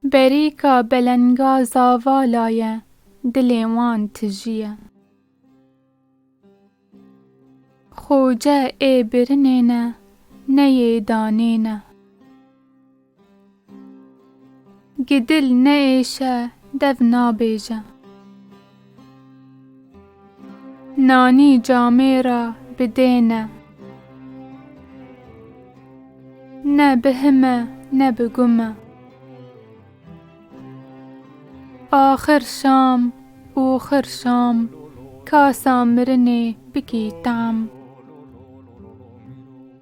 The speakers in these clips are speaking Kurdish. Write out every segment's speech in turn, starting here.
Berîka belenga zavala ye, dilê wan tijî ye. Xoce ê birinê ne, neyê danê ne. Gi dil neêşe dev nabêje. Nanî camê ra bi dê ne. Ne bi hime ne bi gume. Axir şam oxir şam kasa mirinê bikî tam.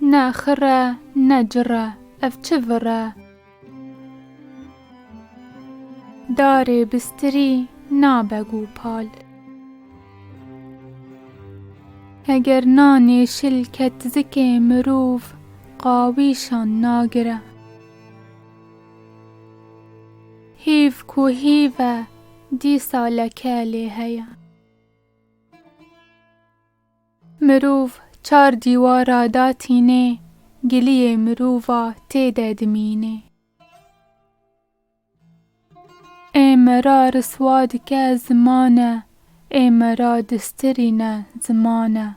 Ne xir e, ne cir e, ev çi vir e. Darê bistirî nabe gopal. Heger nanê şil ke tizikê mirov qawîşan nagire. Hêv ku hêv e, dîsa leke lê heye. Mirov çar dîwara da tînê, giliyê mirova tê de dimînê. Ê me ra riswa dike zimane, ê me ra distirîne zimane.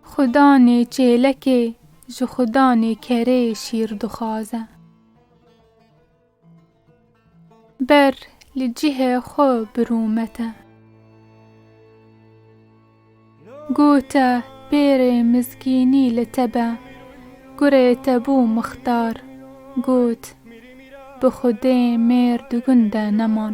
Xwe danê çêlekê, ji xwe danê kerê şîr dixwaze. Ber li cihê xwe birûmete. Gote pêrê mizgînî li te be. Kurê te bû mixtar. Got, Bi xwedê mêr di gund de neman.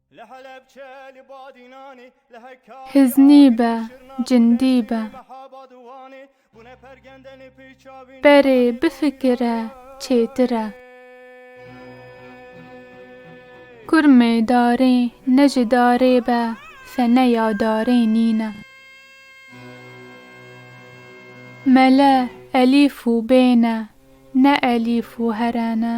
Hiznî be, cindî be. Berê bifikire çêtir e. Kurmê darê ne ji darê be fene ya darê nîne. Mele elîf û bê ne, ne elîf û here ne.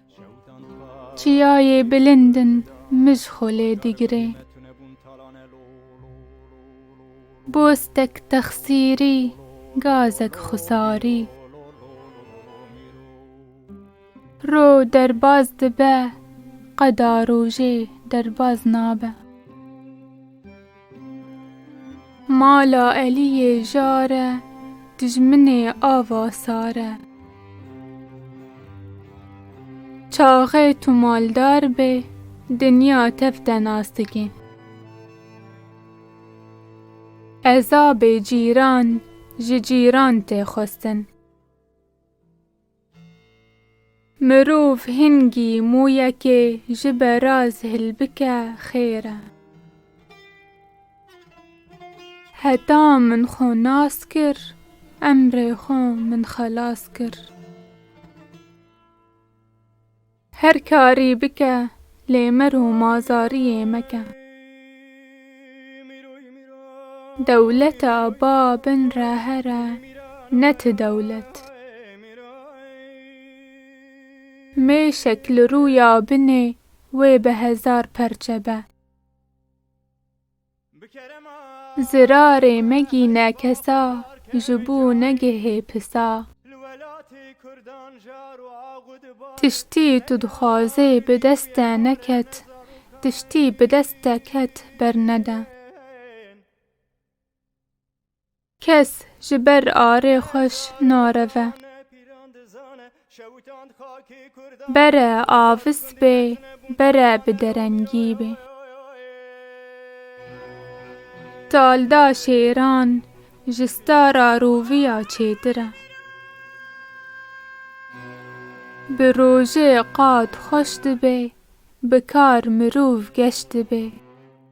Çiyayê bilind in mij xwe lê digirê. Bostek texsîrî, gazek xusarî. Ro derbaz dibe, qeda rojê derbaz nabe. Mala Eliyê jar e, dijminê ava sar e. Çaxê tu maldar bê, dinya tev te nas dike. Ezabê cîran ji cîran tê xwestin. Mirov hingî mûyekê ji beraz hilbike xêr e. Heta min xwe nas kir, emrê xwe min xelas kir. Her karî bike lê mir û mazariyê meke. Dewleta ba bin re here ne ti dewlet. Mêşek li rûya binê wê bi hezar perçe be. Bi kerema. Zirarê megîne kesa, ji bo negihê pisa. Li welatê kurdan jar û agu diba. Tiştî tu dixwazê bi dest te neket, tiştî bi dest te ket bernede. Kes ji ber arê xweş nareve. Bere avis bê, bere bi derengî bê. Talda şêran ji stara roviya çêtir e. Bi rojê qad xweş dibe, bi kar mirov geş dibe.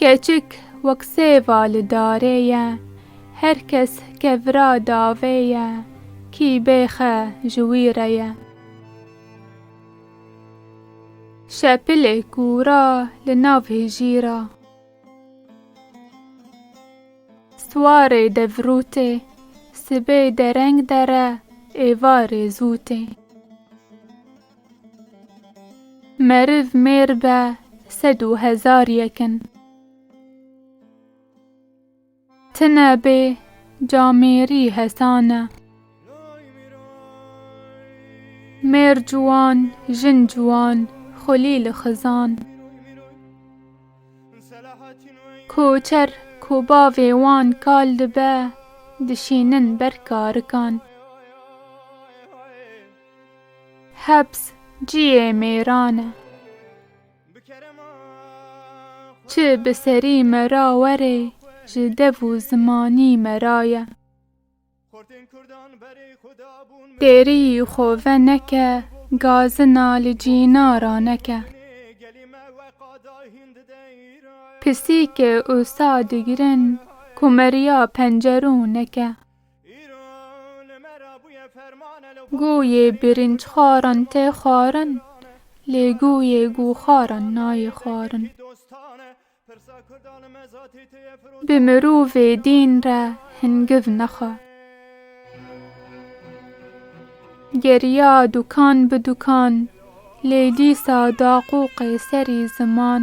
Keçik wek sêva li darê ye, her kes ke vira davê ye, kî bêxe ji wî re ye. Şepilê kûra li nav hijîra. Swarê devrûtê, sibê dereng dere, êvarê zûtê. Meriv mêr be sed û hezar yek in. Tine bê ca mêrî hesan e. Mêr ciwan jin ciwan xulî li xizan. Koçer ku bavê wan kal dibe dişînin ber karikan. Hebs ciyê mêran e. Çi bi serî me ra were ji dev û zimanî me ra ye. Têrî xwe veneke gazina li cîna ra neke. Pisîkê usa digirin ku me riya pencerû neke. Guyê birinc xwarin tê xwarin lê guyê gûxwarin nayê xwarin. Bi mirovê dîn re hingiv nexe. Geriya dukan bi dukan lê dîsa da qoqê serî ziman.